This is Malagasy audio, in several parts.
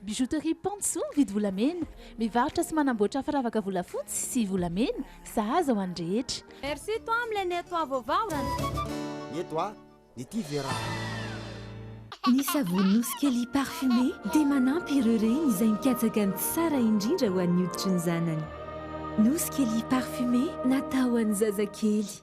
Bijouterie Pantsou mividy volamena, mivarotra sy manamboatra firavaka volafotsy sy volamena, sahaza ho an'ny rehetra. Merci toi am le nettoie vos vahoran. Nettoie ny tia verra. Ny savony Nosy Kely parfumé dia manampy ireo reny izay mikatsaka ny tsara indrindra ho an'ny hoditry ny zanany. Nosy Kely parfumé natao ho an'ny zazakely.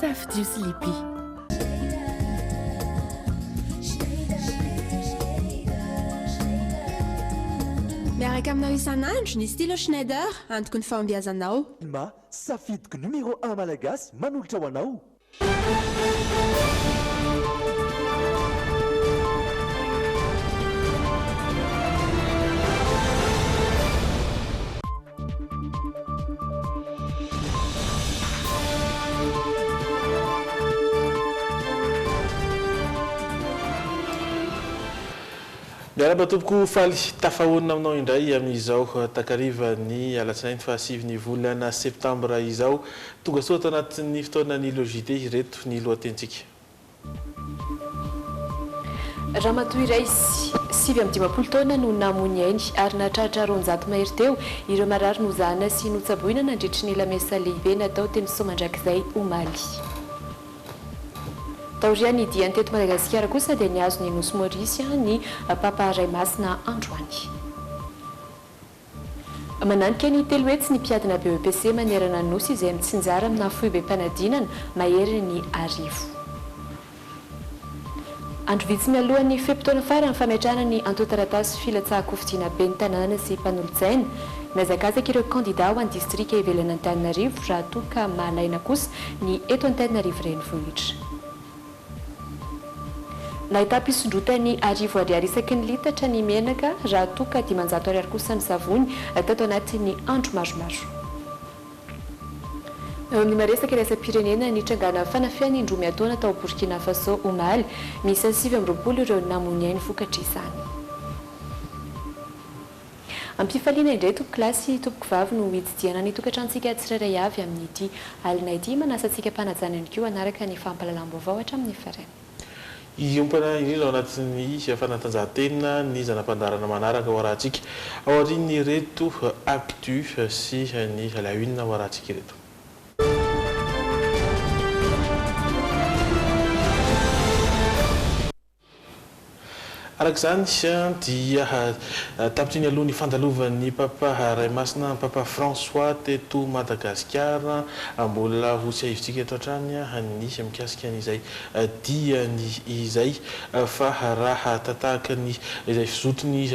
Safidio sy Libye. Miaraka aminao isan'andro ny stylo Schneider, antoky ny fahombiazanao. Telma, safidiko numéro un malagasy manolotra ho anao. Miarahaba tompoko faly tafahaonina aminao indray amin'izao takariva ny alatsinainy faha sivy ny volana septambra izao. Tongasoa ato anatin'ny fotoanan'ny logite ireto ny lohatenintsika. Ramatoa iray, sivy amby dimampolo taona no namoy ny ainy ary nahatratra roanjato mahery teo ireo marary nozahana sy notsaboina nandritry ny lamesa lehibe natao teny Soamandrakizay omaly. Taorian'ny diany teto Madagasikara kosa dia nihazo ny nosy Maurice ny Papa Ray Masina androany. Mananika ny telo hetsy ny mpiadina BEPC manerana ny Nosy izay mitsinjara aminà foibem-panadinana mahery ny arivo andro vitsy mialohan'ny fe-potoana faran'ny fametrahana ny antontan-taratasy filatsahan-kofidiana ben'ny tanàna sy mpanolotsaina. Mihazakazaka ireo kandidà ho an'ny distrika ivelan'Antananarivo raha toa ka mahalaina kosa ny eto Antananarivo Renivohitra. Nahitam-pisondrotany arivo ariary isaky ny litatra ny menaka raha toa ka dimanjato ariary kosa ny savony tato anatin'ny andro maromaro. Eo amin'ny maha-resaka iraisam-pirenena, nitrangana fanafihana indroa miantaona tao Borkina Fasô omaly. Miisa sivy amby roapolo ireo namoy ny ainy vokatr'izany. Am-pifaliana indray tompoko lahy sy tompoko vavy no hididiana ny tokantranontsika tsirairay avy amin'ity alina ity. Manasa antsika mpanajana ihany koa hanaraka ny fampahalalam-baovao hatramin'ny farany. Hiompana indrindra ao anatin'ny fanatanjahantena ny zana-pandaharana manaraka ao Arahantsika, aorian'ireto Actu sy ny La Une ao Arahantsika ireto. Araka izany dia tapitriny aloha ny fandalovan'ny Papa Ray Masina Papa François teto Madagasikara. Mbola ho tsiahivintsika eto hatrany ny mikasika an'izay diany izay fa raha tahaka ny izay fizotiny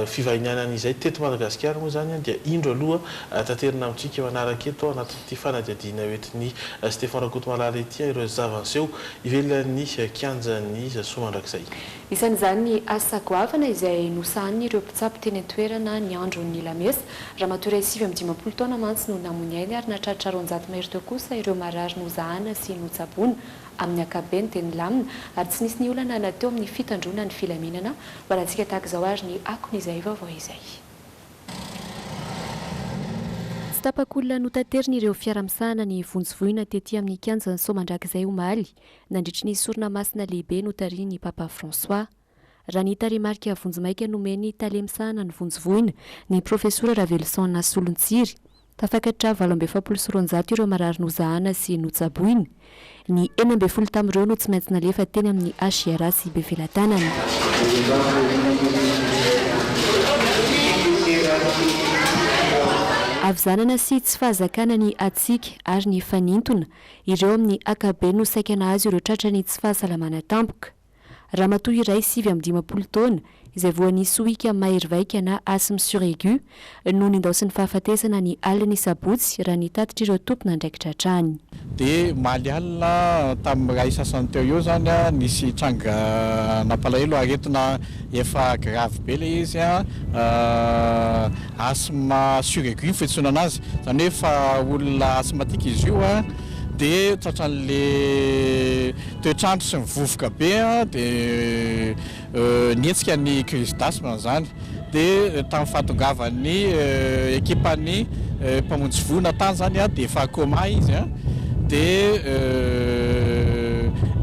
fivahinianany izay teto Madagasikara moa izany dia indro aloha taterina amintsika manaraka eto anaty ity fanadihadiana hoentin'i Stefan Rakotomalala ity ary ireo zava-niseho ivelan'ny kianjan'ny soa mandrakizay. Isan'izany ny asa goavana izay nosahanin'ireo mpitsabo teny an-toerana ny andron'ny lamesa. Ramatoa iray sivy amby dimampolo taona mantsy no namoy ny ainy ary nahatratra roanjato mahery teo kosa ireo marary nozahana sy notsaboina. Amin'ny ankapobeny dia nilamina ary tsy nisy niolana na teo amin'ny fitandroana ny filaminana. Ho anantsika tahaka izao ary ny akon'izay vaovao izay. Tsy tapak'olona notaterin'ireo fiara misahana ny vonjy voina tety amin'ny kianjan'i Soamandrakizay omaly, nandritry ny sorona masina lehibe notarihin'ny Papa François. Raha ny tarehimarika vonjimaika nomen'ny tale misahana ny vonjy voina, ny profesora Raveloson Nasolontsiry, Tafakatra valo amby efapolo sy roanjato ireo marary nozahana sy notsaboina. Ny enina ambin'ny folo tamin'ireo no tsy maintsy nalefa teny amin'ny HIRA sy Bevelatanana. Havizanana sy tsy fahazakana ny hatsiaka ary ny fanintona. Ireo amin'ny ankabeny no saika nahazo ireo tratran'ny tsy fahasalamana tampoka. Ramatoa iray sivy amby dimampolo taona izay voan'ny sohika mahery vaika na asthme suraigu no nindaosin'ny fahafatesana ny alin'ny sabotsy raha ny tatitr'ireo tompon'andraikitra hatrany. Dia omaly alina tamin'ny iray sasany teo eo izany nisy tranga nampalahelo aretina efa gravy be ilay izy asthme suraigu ny fiantsoana anazy izany hoe efa olona asthmatique izy io dia tratran'ilay Toetr'andro sy ny vovoka be dia nihetsika ny crise d'asthme amin'izany dia tamin'ny fahatongavan'ny ekipan'ny mpamonjy voina tany izany dia efa coma izy dia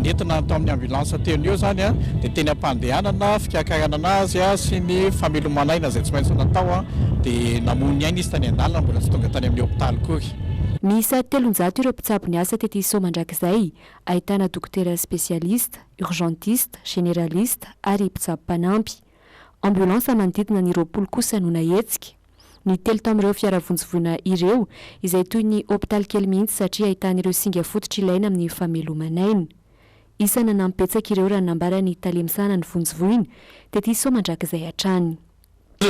nentina tao amin'ny ambulance teo noho eo izany dia teny am-pandehanana fiakaranana azy sy ny famelomana aina izay tsy maintsy natao dia namoy ny ainy izy tany an-dalana mbola tsy tonga tany amin'ny hopitaly akory. Miisa telonjato ireo mpitsabo niasa tety Soamandrakizay Ahitana dokotera spesialista, urgentiste, generaliste ary mpitsabo mpanampy. Ambulance manodidina ny roapolo kosa no nahetsika. Ny telo tamin'ireo fiara vonjivoina ireo, izay toy ny hopitaly kely mihitsy satria ahitana ireo singa fototra ilaina amin'ny fameloman'aina. Isa nanampy betsaka ireo raha nambara ny tale misahana ny vonjivoina, tetisao mandrakizay hatrany.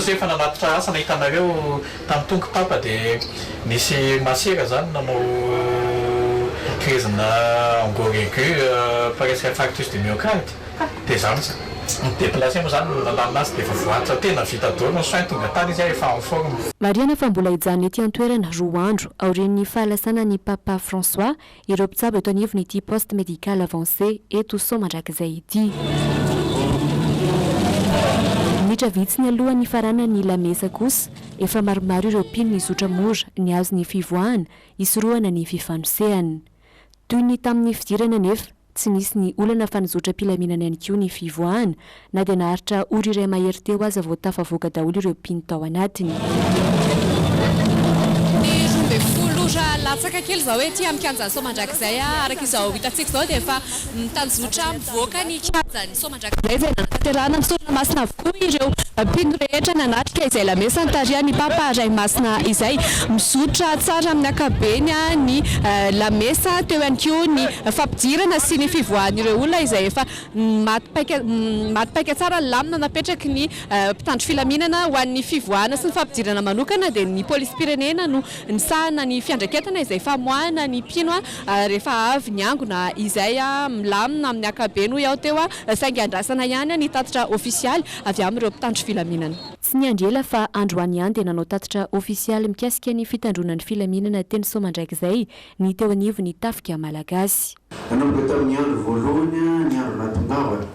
Zay efa nanatitra asa nahita anareo tany tonky papa de nisy masera zany nanao kirezina angor aigu par ex infarctus du myocarde de za mitsy mi deplacer moa zany no nalalina azy de efa voatsa tena vita daholo ny soins tonga tany izy ary efa en forme. Marihana fa mbola hijanona ety an-toerana roa andro aorian'ny fahalasana an'i Papa François ireo mpitsabo eto anivon'ity poste médical avancé eto Sao mandrakizay ity. Minitra vitsy ny alohan'ny hifaranan'ny la messe kosa efa maromaro ireo mpino nizotra mora nihazo ny fivoahana hisorohana ny fifanosehana. Toy ny tamin'ny fidirana anefa, tsy nisy ny olana fa nizotra am-pilaminana ihany koa ny fivoahana Na dia naharitra ora iray mahery teo aza vao tafavoaka daholo ireo mpino tao anatiny. Ny roa ambin'ny folo ora latsaka kely izao ety amin'ny kianjan'ny Soamandrakizay, araka izao hitantsika izao dia efa mitanjotra mivoaka ny kianjan'ny Soamandrakizay izay nanatanterahana ny sorona masina avokoa ireo mpino rehetra nanatrika izay lamesa nitarihan'ny Papa Ray Masina izay. Mizotra tsara amin'ny ankapobeny ny lamesa, teo ihany koa ny fampidirana sy ny fivoahan'ireo olona izay efa Maty paika Maty paika tsara ny lamina napetraky ny mpitandro filaminana ho an'ny fivoahana sy ny fampidirana manokana dia ny polisim-pirenena no misahana ny fiandraiketana izay famoahana ny mpino rehefa avy ny angona izay milamina amin'ny ankabeny hoy aho teo saingy andrasana ihany ny tatitra ofisialy avy amin'ireo mpitandro filaminana. Tsy niandry ela fa androany ihany dia nanao tatitra ofisialy mikasika ny fitandroana ny filaminana teny Soamandrakizay ny teo anivon'ny tafika malagasy. Nanomboka tamin'ny andro voalohany ny andro natongavana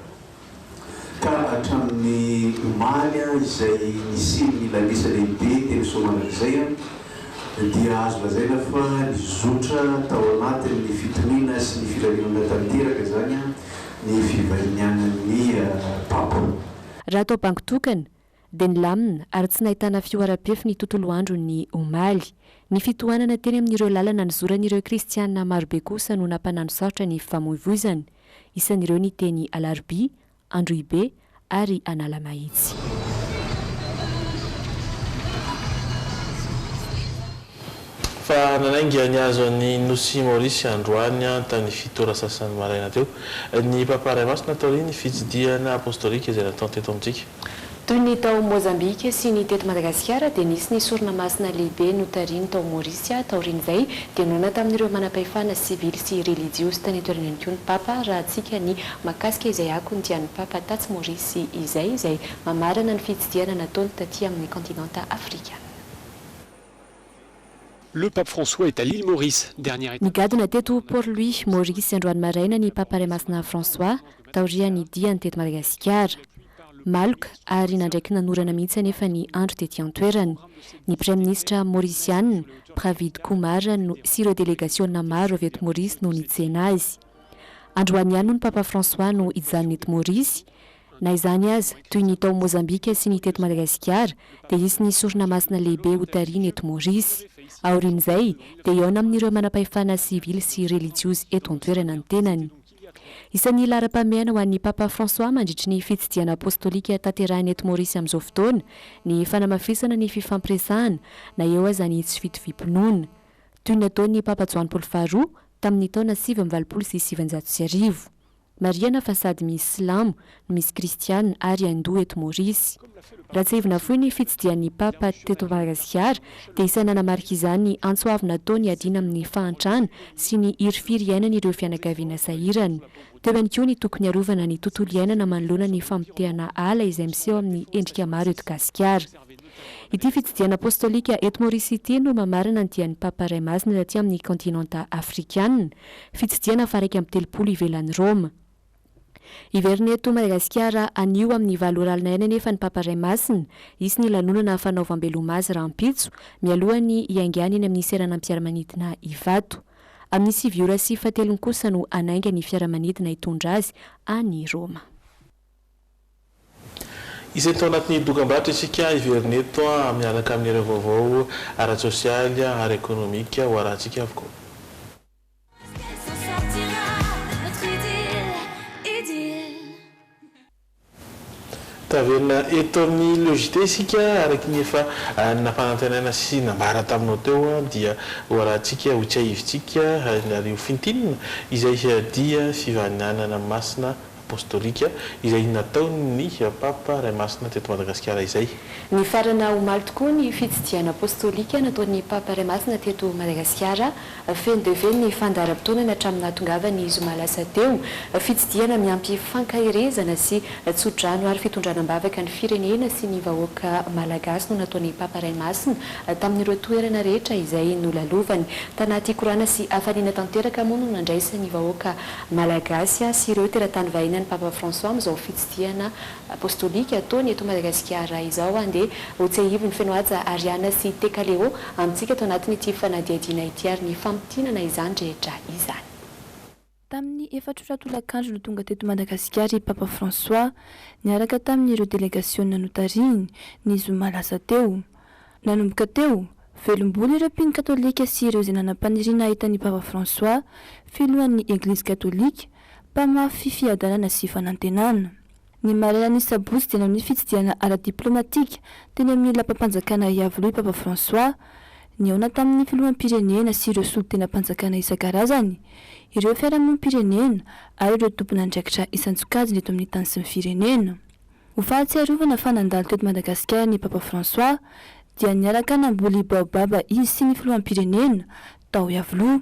ka hatramin'ny omaly izay nisian'ny lamesa lehibe teny Soamandrakizay dia azo lazaina fa nizotra tao anatin'ny fitoniana sy ny filaminana tanteraka izany ny fivahinianan'ny Papa. Raha atao bango tokana, dia nilamina ary tsy nahitana fihoaram-pefy ny tontolo andro ny omaly. Ny fitohanana teny amin'ireo lalana nizoran'ireo kristiana marobe kosa no nampananosarotra ny fifamoivoizana. Isan'ireo ny teny Alarobia, Androhibe ary Analamahitsy. Fa nanainga ny hazo an'i Nosy Maorisy androany tany fito ora sasany maraina teo, ny Papa Ray Masina taorian'ny fitsidihana apostolika izay natao teto amintsika. Toy ny tao Mozambika sy ny teto Madagasikara dia nisy ny sorona masina lehibe notarihiny tao Maorisy taorian'izay dia noana tamin'ireo manampahefana sivily sy relijiozy tany an-toerana ihany koa ny Papa raha hatsika ny mahakasika izay akony dia ny Papa tatsy Maorisy izay izay mamarana ny fitsidihana nataony taty amin'ny kontinanta afrikana. Le Pape François est à l'Ile Maurice, dernière étape. Nigadona teto Port Louis, Maurice, androany maraina ny Papa Ray Masina François, taorian'ny diany teto Madagasikara. Maloka ary nandraiky nanorana mihitsy anefa ny andro tety an-toerana. Ny Praiminisitra Maorisiana, Pravind Kumar, no sy ireo delegasiona maro avy eto Maurice no nitsena azy. Androany ihany moa ny Papa François no hijanona eto Maurice. Na izany aza, toy ny tao Mozambika sy ny teto Madagasikara, dia hisy ny sorona masina lehibe hotarihina eto Maorisy. Aorian'izay, dia hihaona amin'ireo manampahefana sivily sy relijiozy eto an-toerana ny tenany. Isan'ny laharam-pahamehana ho an'i Papa François mandritry ny fitsidihana apostolika tanterahiny eto Maorisy amin'izao fotoana ny fanamafisana ny fifampiresahana na eo aza ny tsy fitoviam-pinoana, toy ny nataon'ny Papa Joany Paoly Faharoa tamin'ny taona sivy amby valopolo sy sivinjato sy arivo. Marihana fa sady misy silamo no misy kristiana ary hindoa eto Maorisy. Raha tsiahivina fohy ny fitsidihan'ny Papa teto Madagasikara dia isay nanamarika izany antso avo natao niadiana amin'ny fahantrana sy ny hirifiry iainan'ireo fianakaviana sahirana. Teo ihany koa ny tokony harovana ny tontolo iainana manoloana ny famotehana ala izay miseho amin'ny endrika maro eto Gasikara. Ity fitsidihana apostolika eto Maorisy ity no mamarana ny dian'ny Papa Iray Masina taty amin'ny kaontinanta afrikana, fitsidihana faha iraika amby telopolo ivelan'i Roma. Hiverina eto Madagasikara anio amin'ny valo ora alina ihany anefa ny Papa Iray Masina, hisy ny lanonana fanaovam-beloma azy rahampitso, mialohan'ny hiaingàny eny amin'ny seranam-piaramanidina Ivato. Amin'ny sivy ora sy fahatelony kosa no hanainga ny fiaramanidina hitondra azy any Roma. Isany tao anatin'ny dokambarotra isika hiverina eto miaraka amin'ireo vaovao ara-tsosialy, ara-ekonomika ho arahantsika avokoa. Taverina eto amin'ny Le JT isika araka ny efa nampanantenaina sy nambara taminao teo dia ho arahantsika, ho tsiahivintsika ary ho fintinina izay dia fifaninanana masina. Apostolika izay nataon'ny Papa Ray Masina teto Madagasikara izay. Nifarana omaly tokoa ny fitsidihana apostolika nataon'ny Papa Ray Masina teto Madagasikara. Feno dia feno ny fandaharam-potoanany hatramin'ny nahatongavany zoma lasa teo. Fitsidihana miampy fankaherezana sy tso-drano ary fitondrana am-bavaka ny firenena sy ny vahoaka malagasy no nataon'ny Papa Ray Masina tamin'ireo toerana rehetra izay nolalovany. Tanaty korana sy hafaliana tanteraka moa no nandraisan'ny vahoaka Malagasy sy ireo teratany vahiny an'i Papa François amin'izao fitsidihana Apostolika ataony eto Madagasikara izao dia hotsiahiviny feno haja Ariana sy Tekaleô amintsika ato anatin'ity fanadihadiana ity ary ny famintinana izany rehetra izany. Tamin'ny efatra ora tolakandro no tonga teto Madagasikara i Papa François, niaraka tamin'ireo delegasiona notarihiny, ny zoma lasa teo. Nanomboka teo, velom-bolo ireo mpino katolika sy ireo izay nanam-paniriana hahita an'i Papa François, Filohan'ny Eglizy Katolika, mpamafy fiadanana sy fanantenana. Ny marainan'ny sabotsy dia nanao ny fitsidihana ara-diplaomatika teny amin'ny Lapam-panjakana Iavoloha i Papa François. Nihaona tamin'ny filoham-pirenena sy ireo solontenam-panjakana isan-karazany, ireo fiarahamonim-pirenena ary ireo tompon'andraikitra isan-tsokajiny eto amin'ny tany sy ny firenena. Ho fahatsiarovana fa nandalo teto Madagasikara ny Papa François dia niaraka namboly baobab izy sy ny filoham-pirenena tao Iavoloha.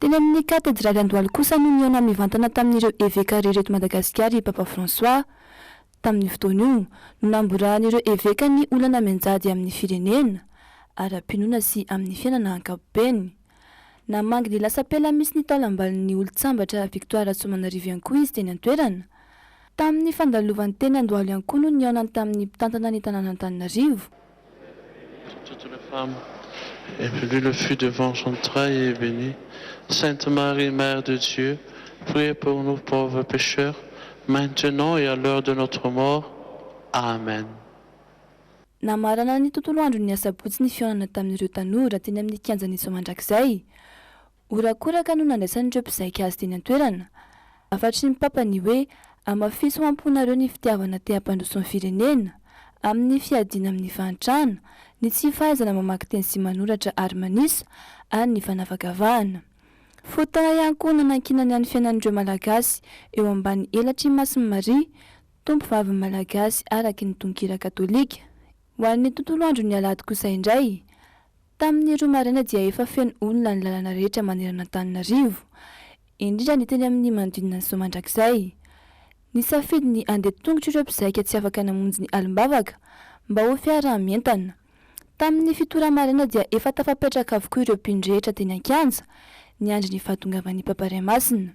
Teny amin'ny Katedraly Andohalo kosa no nihaona mivantana tamin'ireo eveka rehetra eto Madagasikara i Papa François. Tamin'io fotoana io no namborahan'ireo eveka ny olana mianjady amin'ny firenena, ara-pinoana sy amin'ny fiainana ankapobeny. Namangy ny lasam-pela misy ny taolambalon'ny olon-tsambatra Victoire Rasoamanarivo ihany koa izy teny an-toerana. Tamin'ny fandalovany teny Andohalo ihany koa no nihaonany tamin'ny mpitantana ny tanànan'Antananarivo. Pour toutes les femmes et puis lui le fut devant son trail et béni Sainte Marie mère de Dieu priez pour nous pauvres pecheurs maintenant et à l'heure de notre mort Amen. Namarana ny tontolo andron'ny asabotsy ny fihaonana tamin'ireo tanora teny amin'ny kianjan'i Soamandrakizay. Horakoraka no nandraisan'ireo mpizaika azy teny an-toerana. Hafatry ny Papa ny hoe, Hamafiso ho am-ponareo ny fitiavana te hampandroso ny firenena, amin'ny fiadiana amin'ny fahantrana, ny tsy fahaizana mamaky teny sy manoratra ary manisa, ary ny fanavakavahana. Fotoana ihany koa nanankinany an'ny fiainan'ireo Malagasy eo ambany elatr'i Masin'i Maria, Tompovavin'ny Malagasy araky ny tononkira katolika. Ho an'ny tontolo andron'ny alahady kosa indray, Tamin'ny roa maraina dia efa feno olona ny lalana rehetra manerana Antananarivo, indrindra ny teny amin'ny manodidina ny Zo Mandrakizay. Nisafidy ny handeha tongotra ireo mpizaika tsy afaka namonjy ny alim-bavaka mba ho fiaraha-mientana. Tamin'ny fito ora maraina dia efa tafapetraka avokoa ireo mpino rehetra teny an-kianja, niandry ny fahatongavan'ny Papa Iray Masina.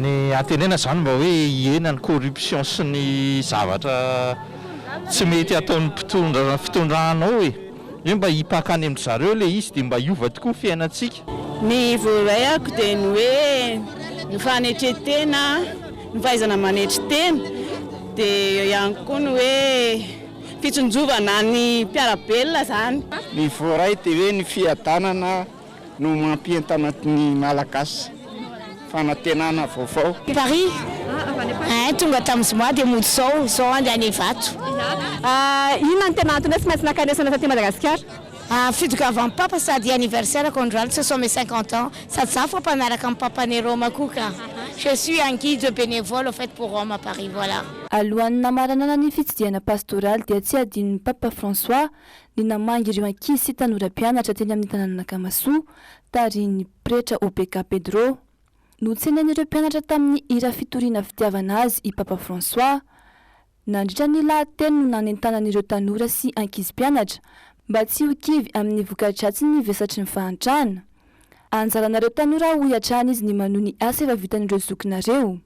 Ny antenena izany mba hoe hihena ny corruption sy ny zavatra tsy mety ataon'ny mpitondra fitondrana ao e! Hoe mba hipaka any amin-dry zareo ilay izy dia mba hiova tokoa ny fiainantsika. Ny voaray ako dia ny hoe ny fanetren-tena. Ny fahaizana manetry tena, dia eo ihany koa ny hoe fitsinjovana ny mpiara-belona izany. Ny voaray dia hoe ny fiadanana no mampientana ny Malagasy, fanantenana vaovao. Paris ein tonga tamin'ny zoma dia mody zao, zao andeha any Ivato. Inona no tena antony hoe tsy maintsy nakanesana taty Madagasikara? Fitongavany Papa sady anniversaire ko androany ce sont mes cinquante ans sady za fa mpanaraka an'i Papa any Roma koa ka! Je suis un guide bénévole au fait pour Rome à Paris voilà. Alohan'ny namaranana ny fitsidihana pastoraly dia tsy hadinon'i Papa François ny namangy ireo ankizy sy tanora mpianatra teny amin'ny tanànan'Akamasoa tarihin'ny Pretra Opeka Pedro. Notsenain'ireo mpianatra tamin'ny hira fitoriana fitiavana azy i Papa François. Nandritra ny lahateny no nanentanan'ireo tanora sy ankizy mpianatra mba tsy ho kivy amin'ny voka-dratsin'ny vesatry ny fahantrana. Anjaranareo tanora hoy hatrany izy ny manohy ny asa efa vitan'ireo zokinareo.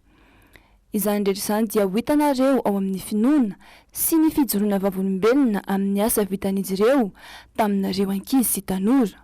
Izany rehetra izany dia ho hitanareo ao amin'ny finoana sy ny fijoroana vavolombelona amin'ny asa vitan'izy ireo taminareo ankizy sy tanora.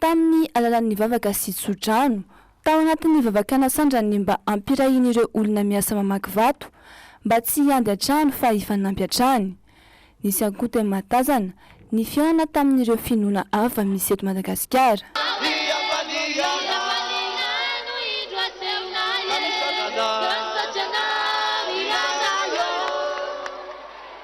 tamin'ny alalan'ny vavaka sy tso-drano, tao anatin'ny vavakana sandrany mba hampirahin'ireo olona miasa mamaky vato mba tsy hiandry an-trano fa hifanampy hatrany. Nisy ankote mahatazana ny fihaonana tamin'ireo finoana hafa misy eto Madagasikara.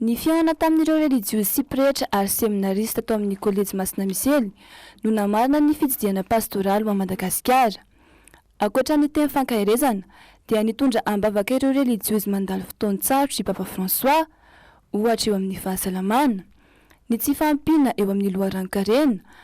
Ny fihaonana tamin'ireo relijiozy sy pretra ary seminarista tao amin'ny Kolejy Masina Misely no namarana ny fitsidihana pastoraly ho an'i Madagasikara. Ankoatra ny teny fankaherezana dia nitondra am-bavaka ireo relijiozy mandalo fotoan-tsarotra i Papa François, ohatra eo amin'ny fahasalamana, ny tsy fahampiana eo amin'ny loharanon-karena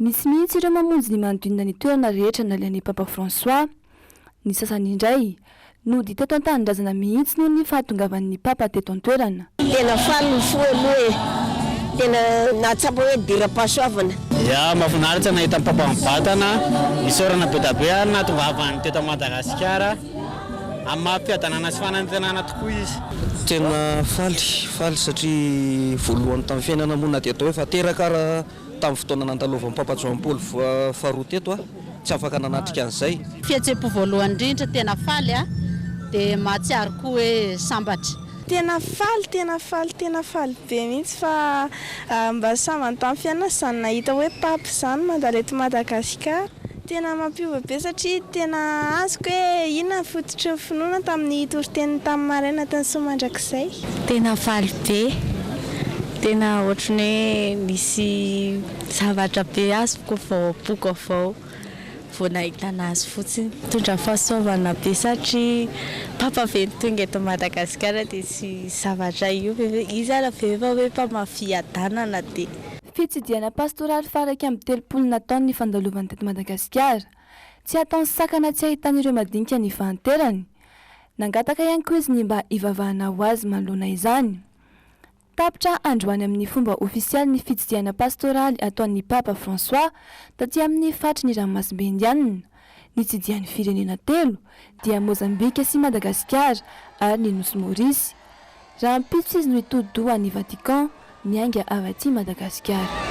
Misy mihitsy ireo mamonjy ny manodidina ny toerana rehetra nalehan'i Papa François. Ny sasany indray, nody teto an-tanindrazana mihitsy noho ny fahatongavan'ny Papa teto an-toerana. Tena faly ny fo aloha e! Tena nahatsapa hoe diram-pahasoavana. Ya, mafinaritra nahita ny Papa mibatana, isaorana bedabe ary nahatongavany teto Madagasikara amin'ny maha fiadanana sy fanantenana tokoa izy. Tena faly, faly satria voalohany tamin'ny fiainana moa na dia atao hoe fa teraka ara. Tamin'ny fotoana nandalovan'i Papa Joany Paoly faharoa teto aho, tsy afaka nanatrika an'izay. Fihetseham-po voalohany indrindra, tena faly aho, dia mahatsiaro koa hoe sambatra. Tena faly, tena faly, tena faly be mihitsy fa mba sambany tamin'ny fiainana izany nahita hoe Pape izany mandalo eto Madagasikara. Tena mampiova be satria tena azoko hoe inona ny fototry ny finoana tamin'ny toriteniny tamin'ny maraina tany soa mandrakizay. Tena faly be, tena ohatran'ny hoe nisy zavatra be azoko vao am-poko avao vao nahita an'azy fotsiny. Mitondra fahasoavana be satria Papa ve no tonga eto Madagasikara dia tsy zavatra io ve, izy aza ve efa hoe mpamaha fiadanana dia. Fitsidihana pastoraly faha iraika amby telopolo nataony ny fandalovany teto Madagasikara. Tsy hataony sakana tsy hahitany ireo madinika nifahanterany. Nangataka ihany koa izy ny mba hivavahana ho azy manoloana izany. Tapitra androany amin'ny fomba ofisialy ny fitsidihana pastoraly ataon'ny Papa François taty amin'ny faritry ny ranomasimbe Indianina. nitsidihan'ny firenena telo dia Mozambika sy Madagasikara ary ny nosy Maurice. Rahampitso izy no hitodi-doha any Vatican miainga avy aty Madagasikara.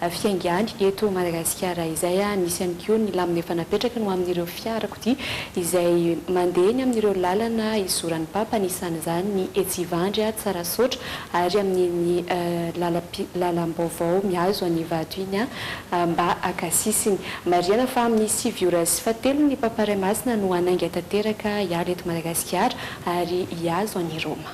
Fiainga ihany eto Madagasikara izay, misy ihany koa ny lamina efa napetraka ny ho amin'ireo fiarakodia izay mandeha eny amin'ireo lalana izoran'ny Papa, anisan'izany ny etsy Ivandry, Tsarasaotra ary amin'iny lalam-pi, lalam-baovao mihazo an'i Ivato iny mba haka sisiny. Marihana fa amin'ny sivy ora sy fahatelo ny Papa Ray Masina no hanainga tanteraka hiala eto Madagasikara ary hihazo an'i Roma.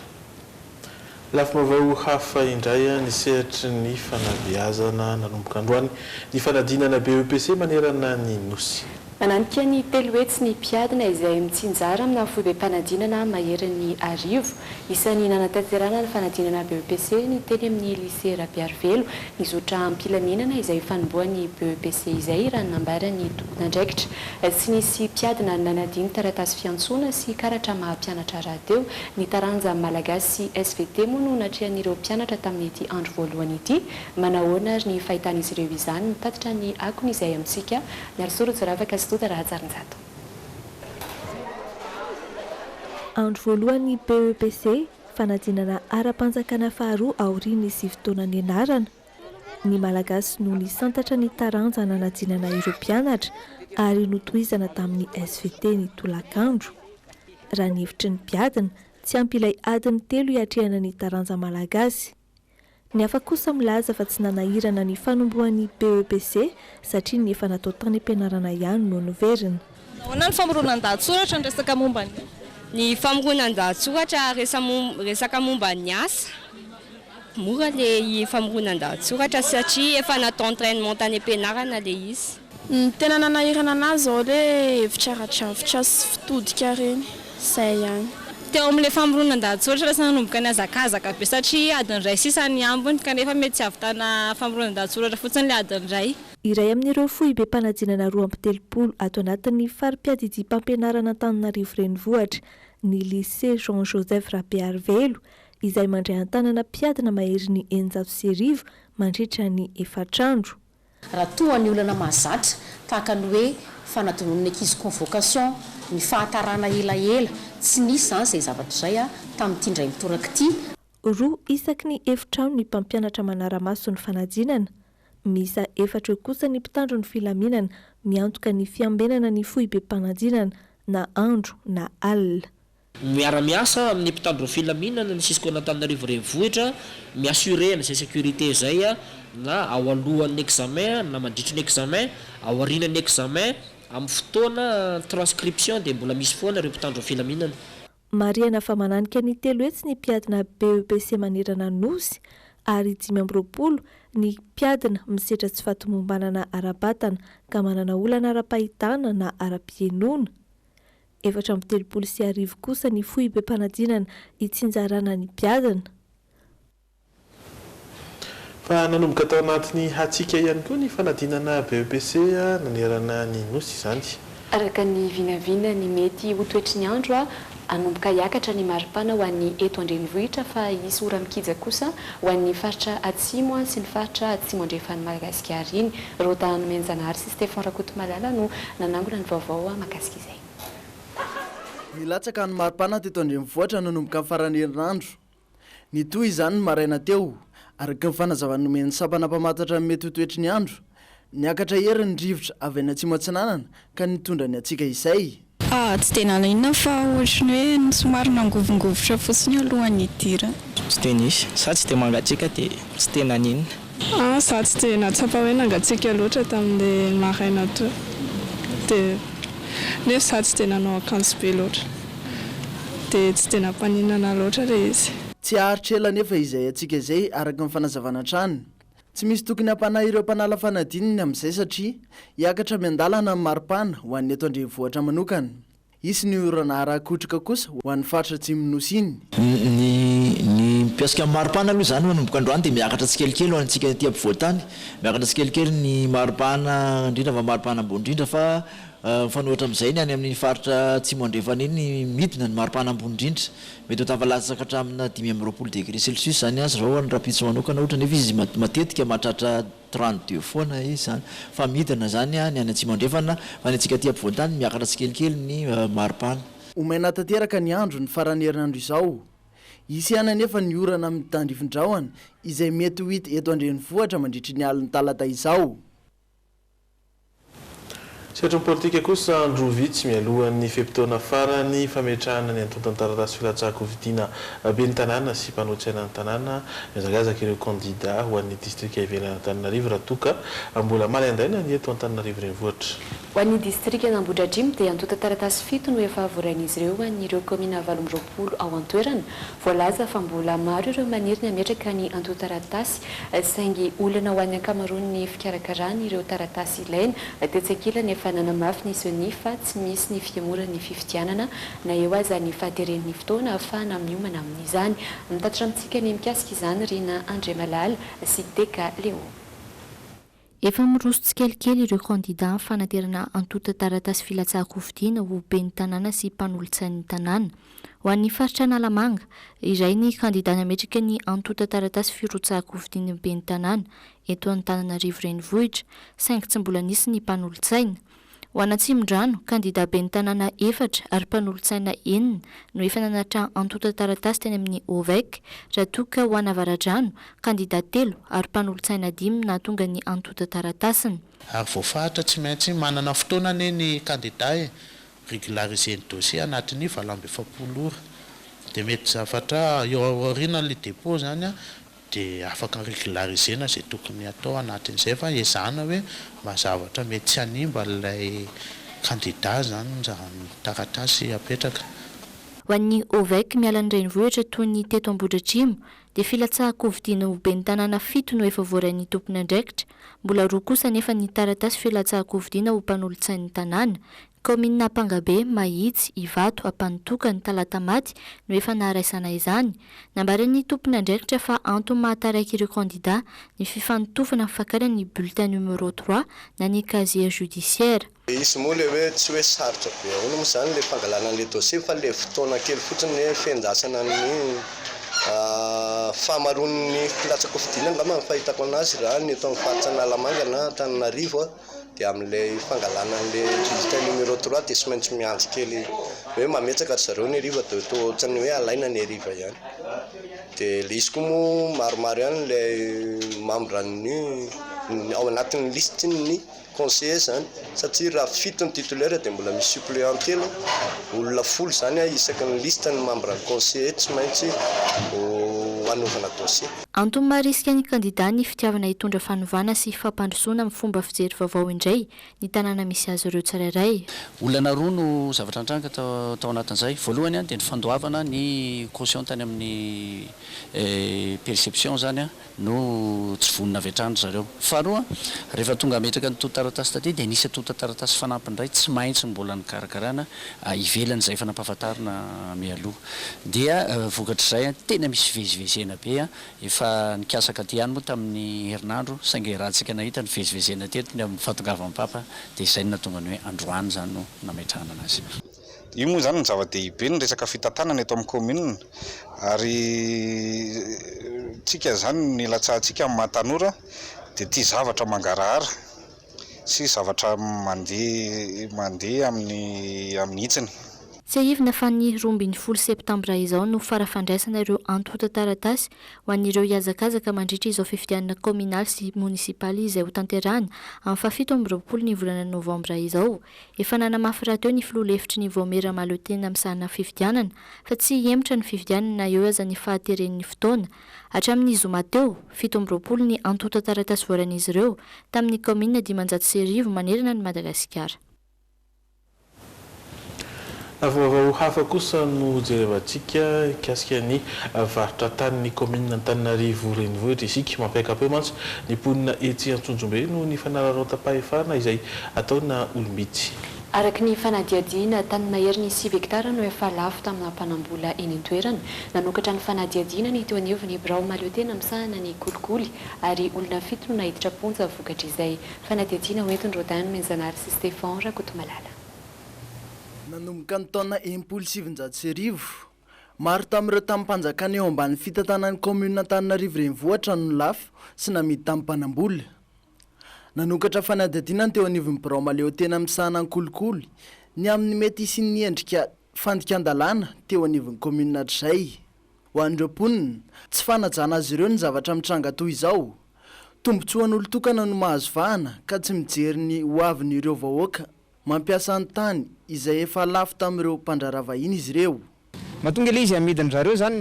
Lafim-baovao hafa indray ny sehatry ny fanabeazana nanomboka androany ny fanadinana BEPC manerana ny Nosy. Mananika ny telo hetsy ny mpiadina izay mitsinjara amina foibem-panadinana maherin'ny arivo. Isan'ny nanatanterahana ny fanadinana BEPC ny teny amin'ny Lycée Rabearivelo ny zotra am-pilaminana izay ifanombohan'ny BEPC izay raha ny nambaran'ny tompon'andraikitra. Tsy nisy mpiadina nanadino taratasy fiantsoana sy karatra maha-mpianatra rahateo Ny taranja Malagasy sy svt moa no natrehan'ireo mpianatra tamin'ity andro voalohany ity. Manahoana ary ny fahitan'izy ireo izany? Mitatitra ny akony izahay amintsika, Miarisoa Rojoravaka sy Doda Rahajarinjato. Andro voalohan'ny PEPC, fanadinana ara-panjakana faharoa aorian'ny sivy taona nianarana. Ny Malagasy no nisantatra ny taranja nanadinana ireo mpianatra ary notohizana tamin'ny svt ny tolakandro. Raha ny hevitry ny mpiadina, tsy ampy ilay adiny telo hiatrehana ny taranja Malagasy. Ny hafa kosa milaza fa tsy nanahirana ny fanombohan'ny BEPC satria ny efa natao tany am-pianarana ihany no niverina. Manao ahoana ny famoronan-dahatsoratra ny resaka momba ny. Ny famoronan-dahatsoratra resaka momba ny asa. Mora ilay famoronan-dahatsoratra satria efa natao entrainement tany am-pianarana ilay izy. Ny tena nanahirana an'ahy izao ilay hevitra ara-drafitra sy fitodika ireny. Izay ihany. Teo amin'ilay famoronan-dahatsoratra lasa nanomboka nihazakazaka be satria adiny iray sisa ny ambiny kanefa mety tsy hahavitana famoronan-dahatsoratra fotsiny ilay adiny iray. Iray amin'ireo foibem-panadinana roa amby telopolo ato anatin'ny fari-piadidiam-pampianaran'Antananarivo Renivohitra ny Lycée Jean Joseph Rabearivelo izay mandray an-tanana mpiadina maherin'ny eninjato sy arivo mandritra ny efatr'andro. Raha toa ny olana mahazatra, tahaka ny hoe fanadinoan'ny ankizy convocation, ny fahatarana elaela, tsy nisy izany izay zavatra izay tamin'ity indray mitoraka ity. Roa isaky ny efitrano ny mpampianatra manara-maso ny fanadinana, Miisa efatra eo kosa ny mpitandro ny filaminana miantoka ny fiambenana ny foibem-panadinana na andro na alina. Miara-miasa amin'ny mpitandro ny filaminana ny Cisco-n'Antananarivo Renivohitra mi-assurer-na izay sécurité izay na ao alohan'ny examen na mandritry ny examen, ao aorianan'ny examen, amin'ny fotoana transcription dia mbola misy foana ireo mpitandro ny filaminana. Marihana fa mananika ny telo hetsy ny mpiadina BEPC manerana Nosy ary dimy amby roapolo ny mpiadina misedra tsy fahatomombanana ara-batana ka manana olana ara-pahitana na ara-pihenoana. Efatra amby telopolo sy arivo kosa ny foibem-panadinana itsinjarana ny mpiadina. Fa nanomboka tao anatin'ny hatsiaka ihany koa ny fanadinana BEPC nanerana ny Nosy izany. Araka ny vinavina ny mety ho toetry ny andro, hanomboka hiakatra ny maripana ho an'ny eto an-drenivohitra fa hisy ora mikija kosa ho an'ny faritra atsimo sy ny faritra atsimo andrefan'i Madagasikara iny. Rota Nomenjanahary sy Stephan Rakotomalala no nanangona ny vaovao mahakasika izay. Nilatsaka ny maripana teto an-drenivohitra nanomboka ny faran'ny herinandro. Nitohy izany ny maraina teo, araka ny fanazavana nomen'ny sampana mpamantatra ny mety ho toetry ny andro. Niakatra ery ny rivotra avy any Atsimo Atsinanana ka nitondra ny hatsiaka izay. Fa tsy dia nahaliana fa ohatry ny hoe somary nangovingovitra fotsiny alohan'ny hidirany. Tsy dia nisy. Sa tsy dia mangatsiaka dia tsy tena nino. Ah, za tsy dia nahatsapa hoe nangatsiaka loatra tamin'le maraina teo dia nefa za tsy dia nanao akanjo be loatra dia tsy dia nampaninana loatra le izy. Tsy haharitra ela anefa izay hatsiaka izay araka ny fanazavana hatrany. Tsy misy tokony hampanahy ireo mpanala fanadininy amin'izay satria hiakatra miandalana ny maripana ho an'ny eto an-drenivohitra manokana. Hisy ny orana ara-akotroka kosa ho an'ny faritra atsimon'ny Nosy iny. Ny ny mpiasika amin'ny maripana aloha izany manomboka androany dia miakatra tsikelikely ho antsika ety ampovoantany. Miakatra tsikelikely ny maripana indrindra fa maripana ambony indrindra fa mifanohitra amin'izay ny any amin'ny faritra atsimo andrefana iny midina ny maripana ambony indrindra. Mety ho tafalatsaka hatramina dimy amby roapolo degré celcius izany aza izao ho an'ny rahampitso manokana ohatra nefa izy matetika mahatratra trente deux foana izy zany fa midina zany ny any atsimo andrefana fa ny antsika aty ampovoantany miakatra tsikelikely ny maripana. Ho maina tanteraka ny andro ny faran'ny herinandro izao. Hisy ihany anefa ny orana amin'ny tandrifin-drahona izay mety ho hita eto an-drenivohitra mandritry ny alin'ny talata izao. Sehatry ny politika kosa, andro vitsy mialohan'ny fe-potoana farany fametrahana ny antontan-taratasy filatsahan-kofidiana ben'ny tanàna sy mpanohitra aina ny tanàna, mihazakazaka ireo kandida ho an'ny distrika ivelan'Antananarivo raha toa ka mbola manaindaina ny eto Antananarivo Renivohitra. Ho an'ny distrikan'Ambohidratrimo dia antontan-taratasy fito no efa voarain'izy ireo ho an'ireo kaominina valo amby roapolo ao an-toerana. Voalaza fa mbola maro ireo maniry ny hametraka ny antontan-taratasy, saingy olana ho an'ny ankamaroany ny fikarakarana ireo taratasy ilaina. Tetsy ankilany, efa nanamafy ny Ceni fa tsy misy ny fihemorana ny fifidianana, na eo aza ny fahateren'ny fotoana ahafahana miomana amin'izany. Mitatitra amintsika ny mikasika izany Rina Andriamalala sy Teka Léo. Efa miroso tsikelikely ireo kandidà amin'ny fanaterana antontan-taratasy filatsahan-kofidiana ho ben'ny tanàna sy mpanolotsain'ny tanàna. Ho an'ny faritra Analamanga, iray ny kandidà nametraka ny antontan-taratasy firotsahan-kofidin'ny ben'ny tanàna eto Antananarivo Renivohitra, saingy tsy mbola nisy ny mpanolotsaina. Ho an'Atsimondrano, kandidà ben'ny tanàna efatra ary mpanolotsaina enina no efa nanattra antontan-taratasy teny amin'ny OVEC, raha toa ka ho an'Avaradrano, kandidà telo ary mpanolotsaina dimy no nahatonga ny antontan-taratasiny. Ary voafaritra tsy maintsy manana fotoana anie ny kandidà e! Régulariser ny dossier anatin'ny valo amby efapolo ora. Dia mety zavatra eo aorianan'ilay dépôt izany an! Dia afaka regularisena izay tokony hatao anatin'izay fa ezahana hoe mba zavatra mety tsy hanimba an'ilay kandida izany raha ny taratasy apetraka. Ho an'ny Ovec miala ny renivohitra toy ny teto Ambohidratrimo dia filatsahan-kofidiana ho ben'ny tanàna fito no efa voarain'ny tompon'andraikitra, mbola roa kosa anefa ny taratasy filatsahan-kofidiana ho mpanolotsain'ny tanàna, Kaominina Ampangabe, Mahitsy, Ivato, Ampanotoka, ny Talatamaty no efa naharaisana izany. Nambaran'ny tompon'andraikitra fa antony mahataraiky ireo kandida ny fifanotofana fakana ny bulletin numéro trois na ny casier judiciaire. Dia izy moa ilay hoe tsy hoe sarotra be ahoana moa izany ilay fangalana an'ilay dossier fa ilay fotoana kely fotsiny ny hoe fiandrasana ny fahamaroan'ny filatsa-kofidina angamba no fahitako an'azy raha ny eto amin'ny faritra Analamanga na Antananarivo. dia amin'ilay fangalana an'ilay bulletin numéro trois dia tsy maintsy miandry kely hoe mametsaka ry zareo ny heriva dia toa ohatran'ny hoe alaina ny heriva ihany dia ilay izy koa moa maromaro ihany ilay membran'ny ao anatin'ny listin'ny conseiller izany satria raha fito ny titulaire dia mbola misy suppléant telo olona folo izany isaky ny liste ny membran'ny conseiller tsy maintsy ho anaovana dossier Antony maharisika ny kandidà ny fitiavana hitondra fanovana sy fampandrosoana amin'ny fomba fijery vaovao indray ny tanàna misy azy ireo tsirairay. Olana roa no zavatra nitranga tao anatin'izay. Voalohany dia ny fandoavana ny caution tany amin'ny perception izany no tsy vonona avy hatrany ry zareo. Faharoa, rehefa tonga hametraka ny tontan-taratasy taty dia nisy tontan-taratasy fanampiny indray tsy maintsy mbola nikarakarana ivelany izay efa nampahafantarina mialoha. Dia vokatr'izay tena misy fivezivezena be, efa nikasa katy ihany moa tamin'ny herinandro, saingy raha tsika nahita ny fivezivezena teto ny amin'ny fahatongavan'ny Papa dia izay no nahatonga ny hoe androany izany no nametrahana anazy. Io moa izany no zava-dehibe ny resaka fitantanana eto amin'ny kaominina ary tsika izany no nilatsahantsika amin'ny maha tanora dia tia zavatra mangarahara. sy zavatra mandeha mandeha amin'ny amin'ny hitsiny. Tsiahivina fa ny roa ambin'ny folo septambra izao no fara fandraisana ireo antontan-taratasy ho an'ireo hihazakazaka mandritra izao fifidianana kaominaly sy monisipaly izay hotanterahana amin'ny fahafito amby roapolo ny volana novambra izao. Efa nanamafy rahateo ny filoha lefitry ny Vaomiera Mahaleo Tena misahana fifidianana fa tsy hihemotra ny fifidianana na eo aza ny fahateren'ny fotoana Hatramin'ny zoma teo, fito amby roapolo ny antontan-taratasy voaran'izy ireo tamin'ny kaominina dimanjato sy arivo manerana an'i Madagasikara. Vaovao hafa kosa no jerevantsika mikasika ny varotra tanin'ny kaominina Antananarivo Renivohitra isika. Mampiaka-peo mantsy ny mponina etsy Antsonjombe noho ny fanararaotam-pahefana izay ataona olom-bitsy. Araka ny fanadihadiana, tany maherin'ny sivy hektara no efa lafo tamina mpanam-bola eny an-toerana. Nanokatra ny fanadihadiana ny teo anivon'ny birao mahaleotena misahana ny kolikoly ary olona fito no naiditra am-ponja vokatr'izay. Fanadihadiana hoentin'i Rodin Nomenjanahary sy Stefan Rakotomalala. Nanomboka ny taona enimpolo sy sivinjato sy arivo, maro tamin'ireo tamim-panjakana eo ambany fitantanan'ny kaominina Antananarivo Renivohitra no lafo sy namidy tamin'ny mpanam-bola. Nanokatra fanadihadiana ny teo anivon'ny birao mahaleotena misahana ny kolikoly ny amin'ny mety hisian'ny endrika fandikan-dalàna teo anivon'ny kaominina hatrizay. Ho an'ireo mponina, tsy fanajana azy ireo ny zavatra mitranga toa izao. Tombontsoan'olon-tokana no mahazo vahana ka tsy mijery ny hoavin'ireo vahoaka Mampiasa ny tany izay efa lafo tamin'ireo mpandraharaha vahiny izy ireo. Mahatonga ilay izy hamidin-dry zareo izany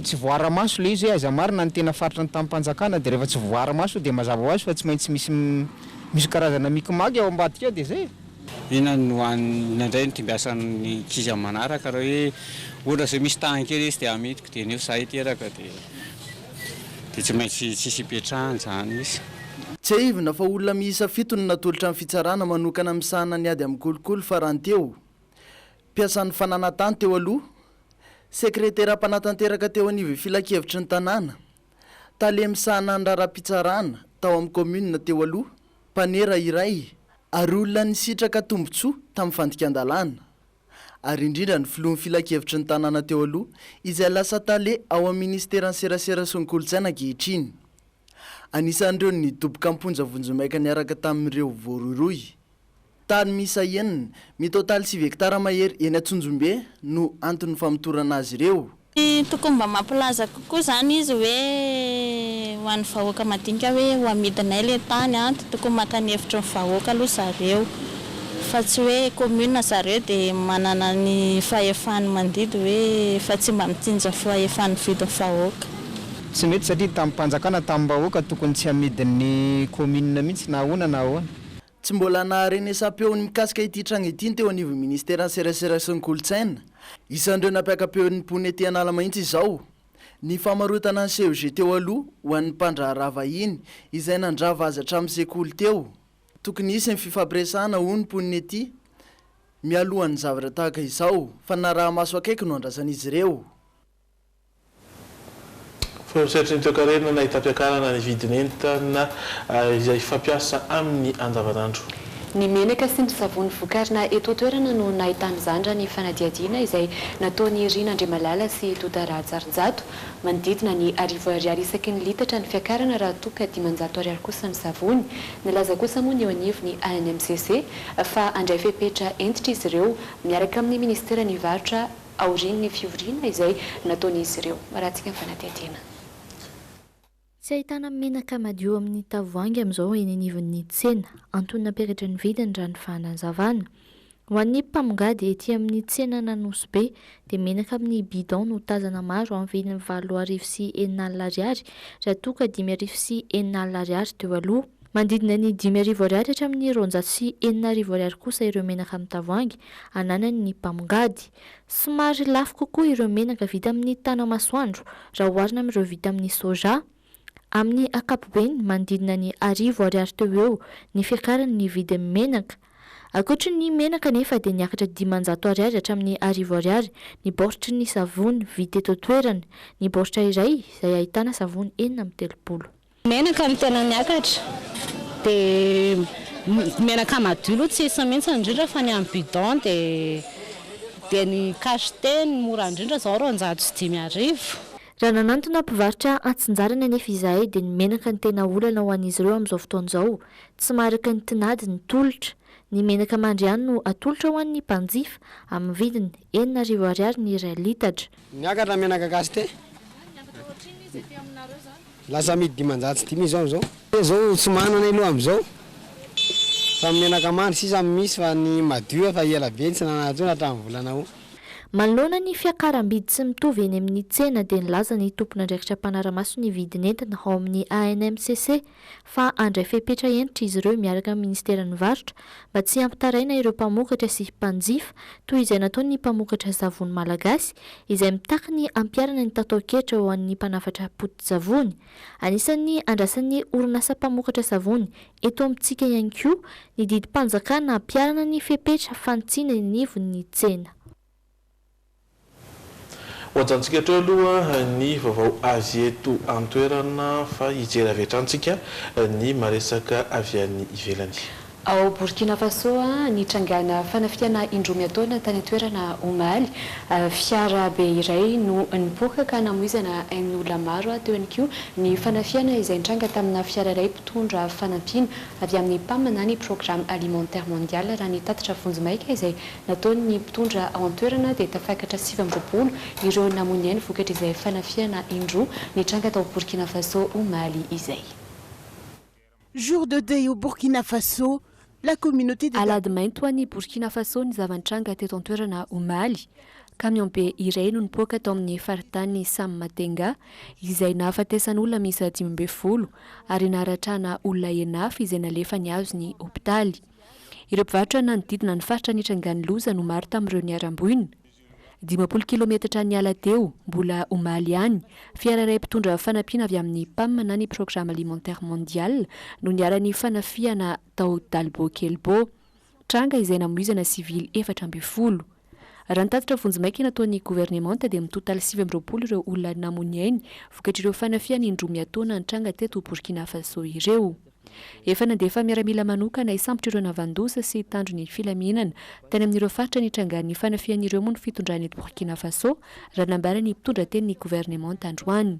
tsy voaara-maso ilay izy hoe aiza marina ny tena faritry ny tamim-panjakana dia rehefa tsy voaara-maso dia mazava ho azy fa tsy maintsy misy misy karazana mikimaky ao ambadika ao dia izay e! Inona no hanina indray no tombiasan'ny ankizy amin'ny manaraka raha hoe ohatra izao misy tany kely izy te hamidiko dia nefa izaho hiteraka dia dia tsy maintsy tsisy ipetrahany izany izy. Tsiahivina fa olona miisa fito no natolotra ny fitsarana manokana misahana ny ady amin'ny kolikoly fa rahateo, mpiasan'ny fananantany teo aloha, sekretera mpanatanteraka teo anivon'ny filankevitry ny tanàna, tale misahana ny raharaham-pitsarana tao amin'ny kaominina teo aloha, mpanera iray ary olona nisitraka tombontsoa tamin'ny fandikan-dalàna. ary indrindra ny filohan'ny filankevitry ny tanàna teo aloha, izay lasa tale ao amin'ny minisiteran'ny Serasera sy ny Kolontsaina ankehitriny. Anisan'ireo nidoboka am-ponja vonjimaika niaraka tamin'ireo voarohirohy. Tany miisa enina, mitotaly sivy hektara mahery eny Antsonjombe no anton'ny famotorana azy ireo. Tokony mba mampilaza kokoa izany izy hoe ho an'ny vahoaka madinika hoe ho amidinay ilay tany an! Tokony maka ny hevitry ny vahoaka aloha zareo fa tsy hoe commune zareo dia manana ny fahefany mandidy hoe fa tsy mba mitsinjo ny fahefany mividy ny vahoaka. Tsy mety satria tamim-panjakana, tamim-bahoaka tokony tsy amidin'ny commune mihitsy na ahoana na ahoana. Tsy mbola naharenesam-peo ny mikasika ity tranga ity ny teo anivon'ny minisiteran'ny serasera sy ny kolontsaina. Isan'ireo nampiaka-peo ny mponina ety An'ala mahitsy izao ny famarotana ny CEG teo aloha ho an'ny mpandraharaha vahiny izay nandrava azy hatramin'ny sekoly teo. Tokony hisy ny fifampiresahana hoy ny mponina ety mialohan'ny zavatra tahaka izao fa ny naraha-maso akaiky no andrasan'izy ireo. Fony ny sehatry ny toekarena nahita fiakarana ny vidin'entana izay fampiasa amin'ny andavanandro. Ny menaka sy ny savony vokarina eto an-toerana no nahitana izany raha ny fanadihadiana izay nataon'i Rina Andriamalala sy i Tota Rahatsarijato. Manodidina ny arivo ariary isaky ny litatra ny fiakarana raha toa ka dimanjato ariary kosa ny savony. Nilaza kosa moa ny eo anivon'ny ANMCC fa handray fepetra hentitra izy ireo miaraka amin'ny minisiteran'ny varotra aorian'ny fivoriana izay nataon'izy ireo. Raha tsy ny fanadihadiana. Tsy ahitana menaka madio amin'ny tavoahangy amin'izao eny anivon'ny tsena. Antony nampiakatra ny vidiny raha ny fanazavana. Ho an'ny mpamongady ety amin'ny tsenan'Anosibe dia menaka amin'ny bidon no tazana maro amin'ny vidiny valo arivo sy enina alina ariary raha toa ka dimy arivo sy enina alina ariary teo aloha. Manodidina ny dimy arivo ariary hatramin'ny roanjato sy enina arivo ariary kosa ireo menaka amin'ny tavoahangy ananany ny mpamongady. Somary lafo kokoa ireo menaka vita amin'ny tana-masoandro raha oharina amin'ireo vita amin'ny soja. Amin'ny ankapobeny, manodidina ny arivo ariary teo ho eo ny fiakarany ny vidin'ny menaka. Ankoatry ny menaka anefa dia niakatra dimanjato ariary hatramin'ny arivo ariary ny baortry ny savony vita eto an-toerana, ny baoritra iray izay ahitana savony enina amby telopolo. Menaka no tena miakatra dia menaka madio aloha tsy hisy mihitsy indrindra fa ny amin'ny bidon dia ny cachet no mora indrindra izao roanjato sy dimy arivo. Raha nanantona mpivarotra hatsinjarany anefa izahay dia ny menaka no tena olana ho an'izy ireo amin'izao fotoana izao, tsy maharaka ny tinady ny tolotra. Ny menaka mandry ihany no atolotra ho an'ny mpanjifa amin'ny vidiny enina arivo ariary ny iray litatra. Niakatra menaka gasy tee. Lasa amidy dimanjato sy dimy izao amizao. Tee zao tsy manana aloha amizao fa menaka mandry sisa no misy fa ny madio efa ela be tsy nanana tsony hatram volana aout. Manoloana ny fiakaram-bidy tsy mitovy eny amin'ny tsena dia nilaza ny tompon'andraikitra mpanara-maso ny vidin'entana ao amin'ny ANMCC, fa handray fepetra hentitra izy ireo miaraka amin'ny minisiteran'ny Varotra mba tsy hampitaraina ireo mpamokatra sy mpanjifa toy izay nataon'ny mpamokatra savony malagasy izay mitaky ny hampiharana ny tataon-kehitra ho an'ny mpanafatra poti-tsavony. Anisan'ny andrasan'ny orinasa mpamokatra savony eto amintsika ihany koa ny didim-panjakana hampiharana ny fepetra fanitsiana ny anivon'ny tsena. Ho ajantsika hatreo aloha ny vaovao avy eto an-toerana fa hijery avy hatrany tsika ny maresaka avy any ivelany. Ao Borkina Faso, nitrangàna fanafihana indroa miataona tany an-toerana omaly. Fiara be iray no nipoaka ka namoizana ain'olona maro, teo ihany koa ny fanafihana izay nitranga tamina fiara iray mpitondra fanampiana avy amin'ny Pam na ny Programme Alimentaire Mondial raha ny tatitra vonjimaika izay nataon'ny mpitondra ao an-toerana dia tafakatra sivy amby roapolo ireo namoy ny ainy vokatr'izay fanafihana indroa nitranga tao Burkina Faso omaly izay. Jour de deuil au Burkina Faso, la communauté des. Alahady mainty ho an'i Burkina Faso ny zava-nitranga teto an-toerana omaly. Kamiaobe iray no nipoaka tao amin'ny faritany Sammatenga izay nahafatesan'olona miisa dimy ambin'ny folo ary naharatrana olona enafy izay nalefa nihazo ny hopitaly. Ireo mpivarotra nanodidina ny faritra nitrangan'ny loza no maro tamin'ireo niharam-boina. Dimampolo kilometatra niala teo, mbola omaly ihany, fiara iray mpitondra fanampiana avy amin'ny Pam na ny Programme Alimentaire Mondial no niharan'ny fanafihana tao Dalbo Kelbo. Tranga izay namoizana sivily efatra ambin'ny folo. Raha ny tatitra vonjimaika nataon'ny governemanta dia mitotaly sivy amby roapolo ireo olona namo ny ainy vokatr'ireo fanafihana indroa miatoana nitranga teto Burkina Faso ireo. Efa nandefa miaramila manokana hisambotra ireo navan-doza sy hitandro ny filaminana tany amin'ireo faritra nitrangan'ny fanafihana ireo moa ny fitondrana eto Burkina Faso raha nambaran'ny mpitondra tenin'ny governemanta androany.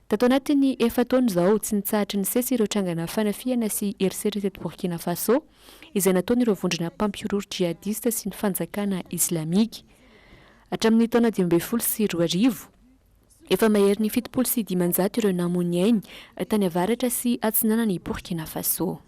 Tato anatin'ny efa-taona izao, tsy nitsahatra nisesy ireo trangana fanafihana sy herisetra teto Burkina Faso. izay nataon'ireo vondrona mpampihorohoro jihadista sy ny fanjakana islamika. Hatramin'ny taona dimy ambin'ny folo sy roa arivo, efa maherin'ny fitopolo sy dimanjato ireo namoy ainy tany avaratra sy atsinanan'i Burkina Faso.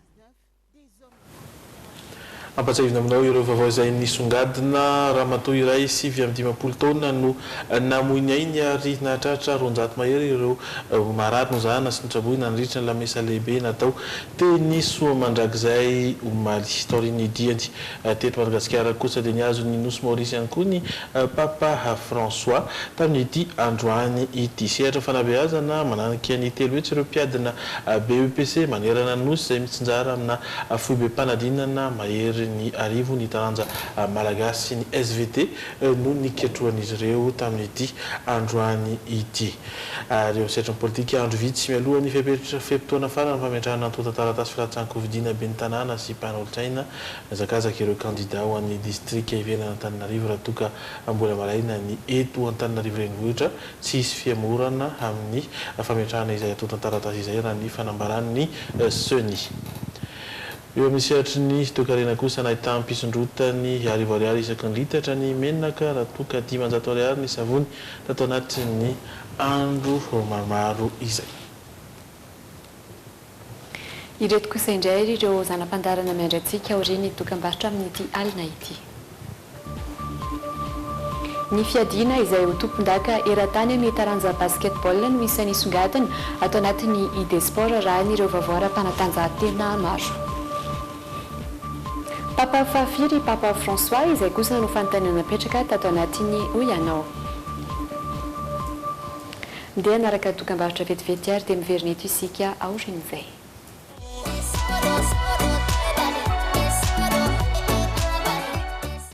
Ampatsahivina aminao ireo vaovao izay nisongadina. Ramatoa iray sivy amby dimampolo taona no namoy ny ainy ary nahatratra roanjato mahery ireo ho marary no zahana sy notraboina nandritra ny lamesa lehibe natao teny Soamandrakizay omaly. Taorian'ny diany teto Madagasikara kosa dia nihazo ny nosy Maorisy ihany koa ny Papa François tamin'ity androany ity. Sehatra fanabeazana mananika ny telo hetsy ireo mpiadina BEPC manerana ny nosy izay mitsinjara amina foibem-panadinana mahery ny arivo ny taranja malagasy, ny svt, no niketrohan'izy ireo tamin'ity androany ity. ary eo amin'ny sehatry ny politika, andro vitsy mialohan'ny fepetra fe-potoana faran'ny fametrahana antontan-taratasy filatsahan-kofidiana ben'ny tanàna sy mpanolo-tsaina, nihazakazaka ireo kandida ho an'ny distrika ivelan'Antananarivo raha toa ka mbola maraina ny eto Antananarivo renivohitra, tsy hisy fihemorana amin'ny fametrahana izay antontan-taratasy izay raha ny fanambaran'ny Ceni. Eo amin'ny sehatry ny toekarena kosa, nahitàn'ny mpisondrotany arivo ariary isaky ny litatra ny menaka raha toa ka dimanjato ariary ny savony tato anatin'ny andro maromaro izay. Ireto kosa indray ary ireo zana-pandaharana miandry antsika aorian'ny dokambarotra amin'ity alina ity. Ny fiadiana izay ho tompondaka eran-tany amin'ny taranja Basketball no isan'ny hisongadina ato anatin'ny Idesport raha ny ireo vaovao ara-panatanjahantena maro. Papa fahafiry i Papa François izay kosa no fanontaniana napetraka tato anatin'ny Hoy Ianao. Ndeha hanaraka dokambarotra vetivety ary dia miverina eto isika aorian'izay.